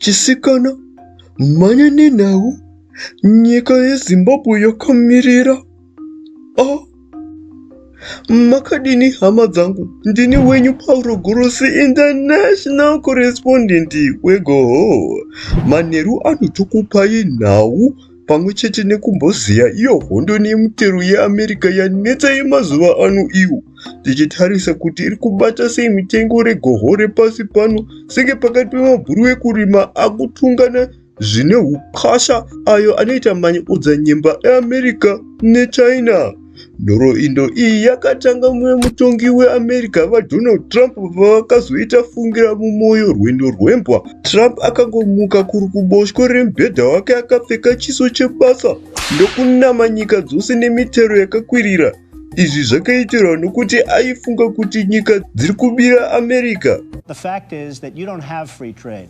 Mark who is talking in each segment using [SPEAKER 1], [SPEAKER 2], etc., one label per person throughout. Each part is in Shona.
[SPEAKER 1] chisikana mhanya nenhau nyika yezimbabwe yakamirira a ah. makadini hama dzangu ndini wenyu pauro gorosi international correspondent wegoho manheru anotokupai nhau pamwe chete nekumbozeya iyo hondo nemutero yeamerica yanetsa yemazuva ano iyo tichitarisa kuti iri kubata sei mitengo regoho repasi pano senge pakati pemabhuru ekurima akutungana zvine ukasha ayo anoita manyi udzanyemba eamerica nechina Nhoroindo iyi yakatanga mumwe mutongi weAmerica VaDonald Trump pavakazoita fungira mumoyo rwendo rwembwa. Trump akangomuka kuri kuboshwe remubhedha wake akapfeka chiso chebasa ndokunama nyika dzose nemitero yakakwirira. Izvi zvakaitirwa nokuti aifunga kuti nyika dziri kubira America. The fact is
[SPEAKER 2] that you don't have free trade.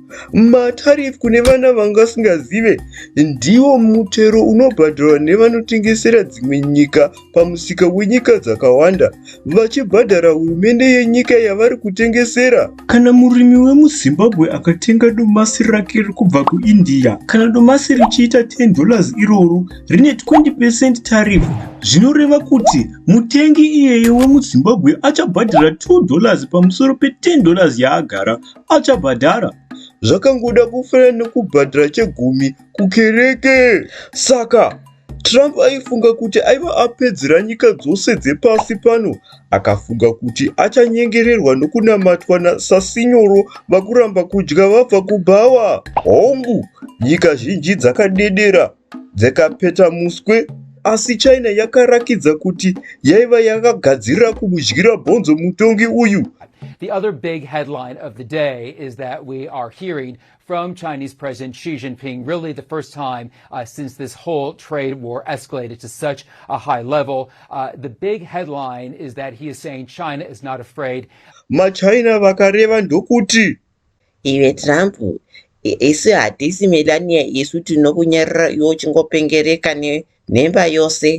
[SPEAKER 1] Matarifu kune vana vanga vasingazive ndiwo mutero unobhadharwa nevanotengesera dzimwe nyika pamusika wenyika dzakawanda vachibhadhara hurumende yenyika yavari kutengesera. Kana murimi wemuZimbabwe akatenga domasi rake kubva kuIndia, kana domasi richiita $10 iroro rine 20 percent tarifu zvinoreva kuti mutengi iyeye wemuZimbabwe achabhadhara $2 pamusoro peTen dollars yaagara achabhadhara zvakangoda kufanana nekubhadhara chegumi kukereke saka trump aifunga kuti aiva apedzera nyika dzose dzepasi pano akafunga kuti achanyengererwa nokunamatwa nasasinyoro vakuramba kudya vabva kubhawa hongu nyika zhinji dzakadedera dzekapeta muswe asi china yakarakidza kuti yaiva yakagadzirira kumudyira bhonzo mutongi uyu The other big
[SPEAKER 3] headline of the day is that we are hearing from Chinese President Xi Jinping, really the first time uh, since this whole trade war escalated to such a high level. Uh, the big headline is that he is saying China is not afraid. MaChina
[SPEAKER 1] vakareva ndokuti Iwe
[SPEAKER 4] Trump, isu hatisi Melania isu tinokunyarira iwe uchingopengereka nemba yose.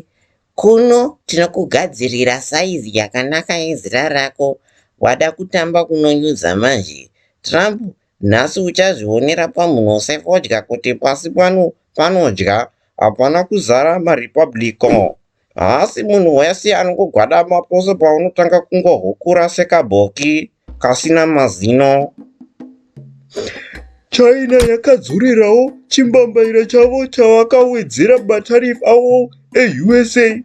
[SPEAKER 4] Kuno tinokugadzirira saizi yakanaka yezira rako. Wada kutamba kunonyudza manje. Trump, nhasi uchazvionera pamhuno sefodya kuti pasi pano panodya hapana kuzara maRepublican. Haasi munhu wese anongogwadama pose paunotanga kungohukura sekabhoki kasina mazino.
[SPEAKER 1] China yakadzurirawo chimbambaira chavo chavakawedzera matarif avo eUSA.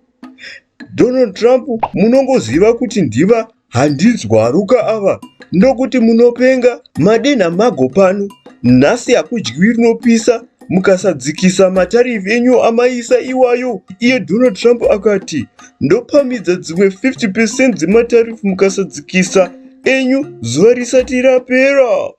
[SPEAKER 1] Donald Trump munongoziva kuti ndiva Handinzwaruka ava ndokuti munopenga madenha mago pano nhasi hakudyiwi rinopisa mukasadzikisa matarifu enyu amaisa iwayo iye donald trump akati ndopamidza dzimwe 50 percent dzematarifu mukasadzikisa enyu zuva risati rapera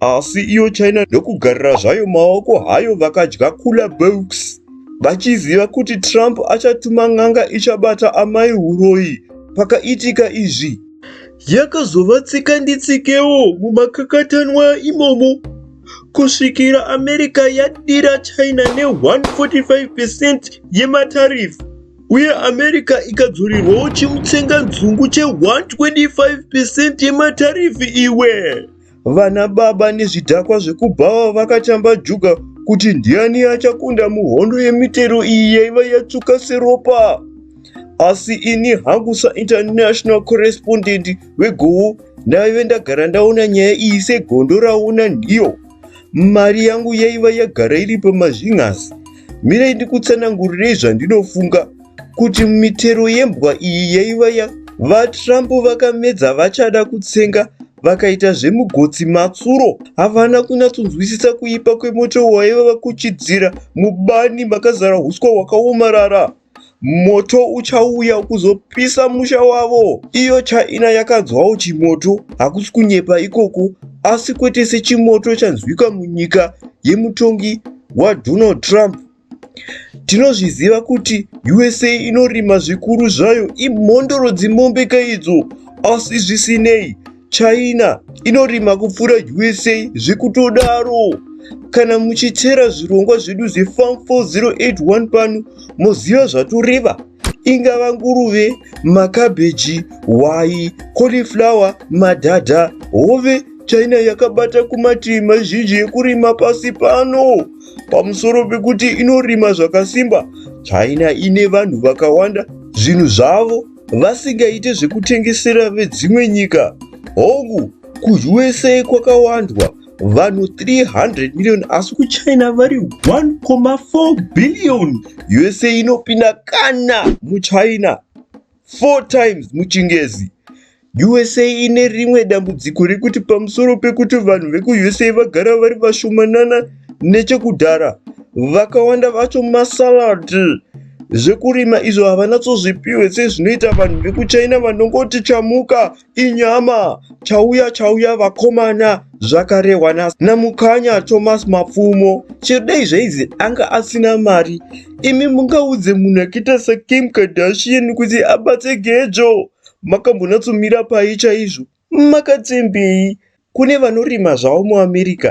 [SPEAKER 5] Asi iyo
[SPEAKER 1] China ndokugarira zvayo maoko hayo vakadya kula books vachiziva kuti Trump achatuma n'anga ichabata amai huroyi pakaitika izvi. Yakazova tsika nditsikewo mumakakatanwa imomo kusvikira America yadira China ne 145% yematarifu uye America ikadzorirwawo chimutsenganzungu che 125% yematarifu iwe. Vana baba nezvidhakwa zvekubhawa vakatamba juga kuti ndiani achakunda muhondo yemitero iyi yaiva yatsvuka seropa. Asi ini hangu sainternational correspondent wegowo ndaive ndagara ndaona nyaya iyi segondo raona nhiyo. Mari yangu yaiva yagara iri pamazvinhasi. Mirai ndikutsanangurirei zvandinofunga. kuti mitero yembwa iyi yaiva ya vatrump vakamedza vachada kutsenga vakaita zvemugotsi matsuro havana kunyatsonzwisisa kuipa kwemoto waiva vakuchidzira mubani makazara huswa hwakaomarara moto uchauya kuzopisa musha wavo iyo china yakanzwawo chimoto hakusi kunyepa ikoko asi kwete sechimoto chanzwika munyika yemutongi wadonald trump Tinozviziva kuti USA inorima zvikuru zvayo imhondoro dzimombe kaidzo. Asi zvisinei, China inorima kupfuura USA zvekutodaro. Kana muchitera zvirongwa zvedu zveFarm 4081 pano, moziva zvatoreva. ingava nguruve makabheji hwai cauliflower madhadha hove china yakabata kumativi mazhinji ekurima pasi pano pamusoro pekuti inorima zvakasimba china ine vanhu vakawanda zvinhu zvavo vasingaite zvekutengesera vedzimwe nyika hongu kuusa kwakawandwa vanhu 300 million asi kuchina vari 1,4 billion usa inopinda kana muchina 4 times muchingezi usa ine rimwe dambudziko rekuti pamusoro pekuti vanhu vekuusa vagara vari vashomanana nechekudhara vakawanda vacho masalad zvekurima izvo havanatsozvipiwe sezvinoita vanhu vekuchina vanongoti chamuka Inyama chauya chauya vakomana zvakarehwa na namukanya Thomas Mapfumo chidei zveizi anga asina mari imi mungaudze munhu akaita sa Kim Kardashian kuti abatse gejo makambonatsomira pai chaizvo makatembei Kune vanorima zvavo muAmerica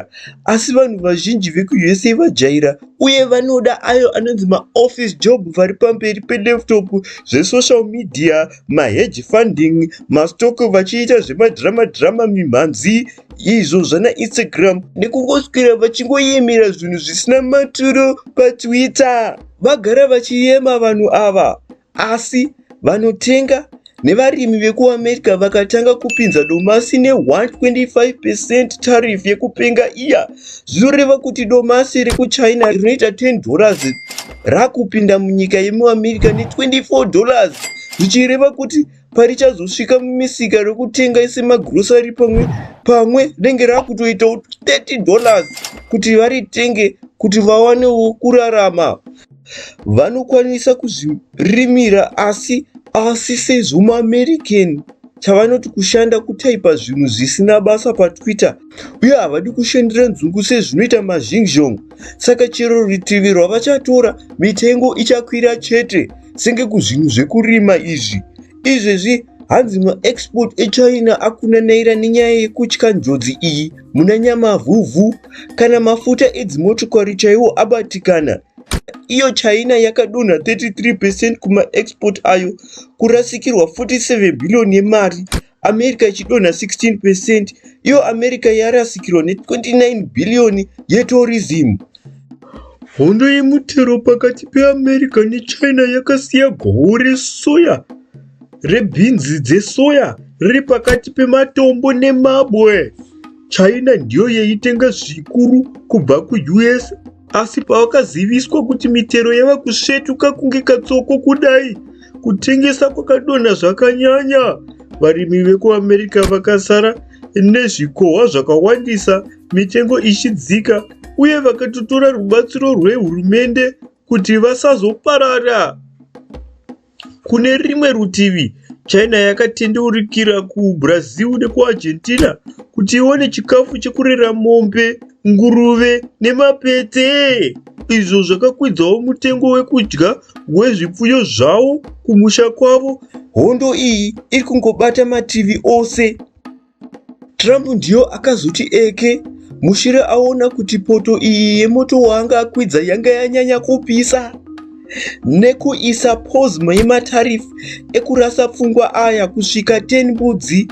[SPEAKER 1] asi vanhu vazhinji vekuUSA vajaira uye vanoda ayo anonzi maoffice job vari pamberi pelaptop zvesocial media, mahedge funding, mastock vachiita zvemadrama drama mimhanzi izvo zvana Instagram nekungoswera vachingoyemera zvinhu zvisina maturo paTwitter. Vagara vachiyema vanhu ava. Asi vanotenga nevarimi vekuAmerica vakatanga kupinza domasi ne 125% tariff yekupenga iya zvinoreva kuti domasi rekuchina rinoita 10 dollars rakupinda munyika yemuamerica ne 24 dollars zvichireva kuti parichazosvika mumisika rekutenga ese magrosari pamwe pamwe rinenge rakutoitawo 30 dollars kuti varitenge kuti vawanewo kurarama vanokwanisa kuzvirimira asi asi sezvo muamerican chavanoti kushanda kutaipa zvinhu zvisina basa patwitter uye havadi kushandira nzungu sezvinoita mazhingzhong saka chero rutivi rwavachatora mitengo ichakwira chete senge kuzvinhu zvekurima izvi izvezvi hanzi maexport echina akunanaira nenyaya yekutya njodzi iyi muna nyamavhuvhu kana mafuta edzimotokari chaiwo abatikana iyo china yakadonha 33 percent kumaexport ayo kurasikirwa 47 billion yemari america ichidonha 16 percent iyo america yarasikirwa ne29 billion yetourism Hondo yemutero pakati peAmerica neChina yakasiya goho resoya rebhinzi dzesoya riri pakati pematombo nemabwe. China ndiyo yaitenga zvikuru kubva kuUS asi pavakaziviswa kuti mitero yava kusvetuka kunge katsoko kudai kutengesa kwakadonha zvakanyanya varimi vekuamerica vakasara nezvikohwa zvakawandisa mitengo ichidzika uye vakatotora rubatsiro rwehurumende kuti vasazoparara. Kune rimwe rutivi, China yakatendeurikira kuBrazil nekuArgentina kuti iwane chikafu chekurera mombe, nguruve nemapete izvo zvakakwidzawo mutengo wekudya wezvipfuyo zvawo kumusha kwavo. Hondo iyi iri kungobata mativi ose. Trump ndiyo akazoti eke mushure aona kuti poto iyi yemoto waanga akwidza yanga yanyanya kupisa nekuisa pozma yematarifu ekurasa pfungwa aya kusvika 10 mbudzi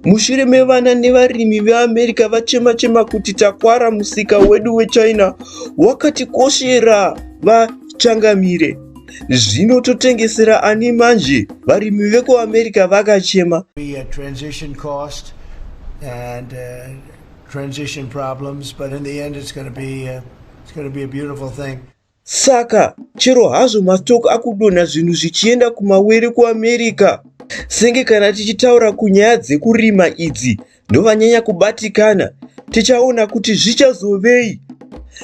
[SPEAKER 1] mushure mevana nevarimi veamerica vachema chema kuti takwara musika wedu wechina wakatikoshera vachangamire Zvino totengesera ani manje? Varimi vekuAmerica vakachema. We had transition
[SPEAKER 5] cost and uh, transition problems, but in the end it's going to be uh, it's going to be a beautiful thing. Saka
[SPEAKER 1] chero hazvo mastock akudonha zvinhu zvichienda kumawere kuAmerica senge kana tichitaura kunyaya dzekurima idzi ndovanyanya kubatikana tichaona kuti zvichazovei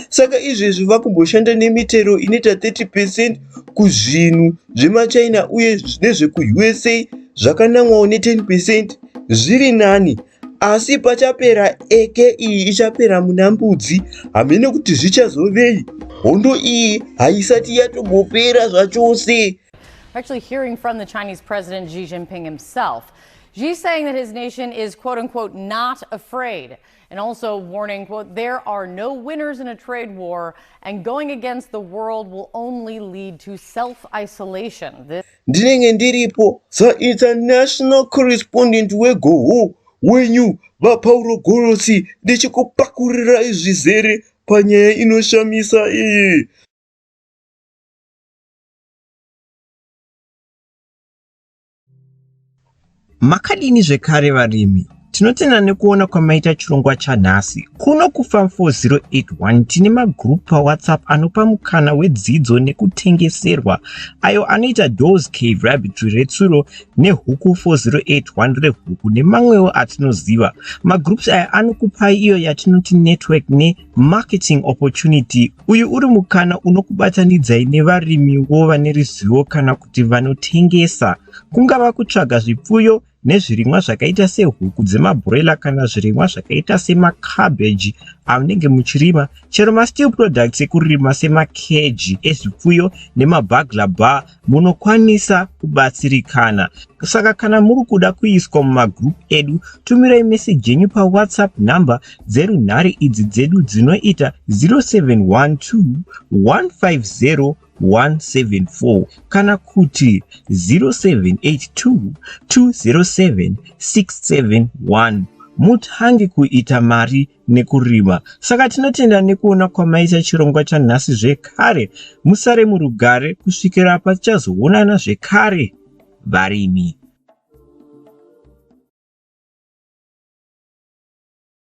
[SPEAKER 1] saka izvezvi vakumboshanda nemitero inoita 30 percent kuzvinhu zvemachina uye nezvekuusa zvakanamwawo ne10 percent zviri nani asi pachapera eke iyi ichapera muna mbudzi hamene kuti zvichazovei hondo iyi haisati yatombopera zvachose Actually,
[SPEAKER 6] hearing from the Chinese President Xi Jinping himself, Xi saying that his nation is quote unquote not afraid and also warning quote there are no winners in a trade war and going against the world will only lead to self isolation. Ndinenge
[SPEAKER 1] ndiripo so international correspondent wegoho wenyu vapauro gorosi ndichikupakurirai zvizere panyaya inoshamisa iyi
[SPEAKER 7] Makadini zvekare varimi? Tinotenda nekuona kwamaita chirongwa chanhasi. Kuno kuFarm 4081 tine magroup paWhatsApp anopa mukana wedzidzo nekutengeserwa ayo anoita Doors Cave Rabbitry retsuro neHuku 4081 rehuku nemamwewo atinoziva. Magroups aya anokupai iyo yatinoti network ne Marketing Opportunity, Uyu uri mukana unokubatanidzai nevarimiwo vane ruzivo kana kuti vanotengesa. Kungava kutsvaga zvipfuyo nezvirimwa zvakaita sehuku dzemabhuroila kana zvirimwa zvakaita semacabbage amunenge muchirima, chero masteel products ekurima semakeji ezvipfuyo nemabagla bar munokwanisa kubatsirikana saka kana muri kuda kuiswa mumagroup edu tumirai meseji yenyu pawhatsapp number dzerunhare idzi dzedu dzinoita 0712150174 kana kuti 0782207671 mutange kuita mari nekurima saka tinotenda nekuona kwamaita chirongwa chanhasi zvekare musare murugare kusvikira patichazoonana zvekare varimi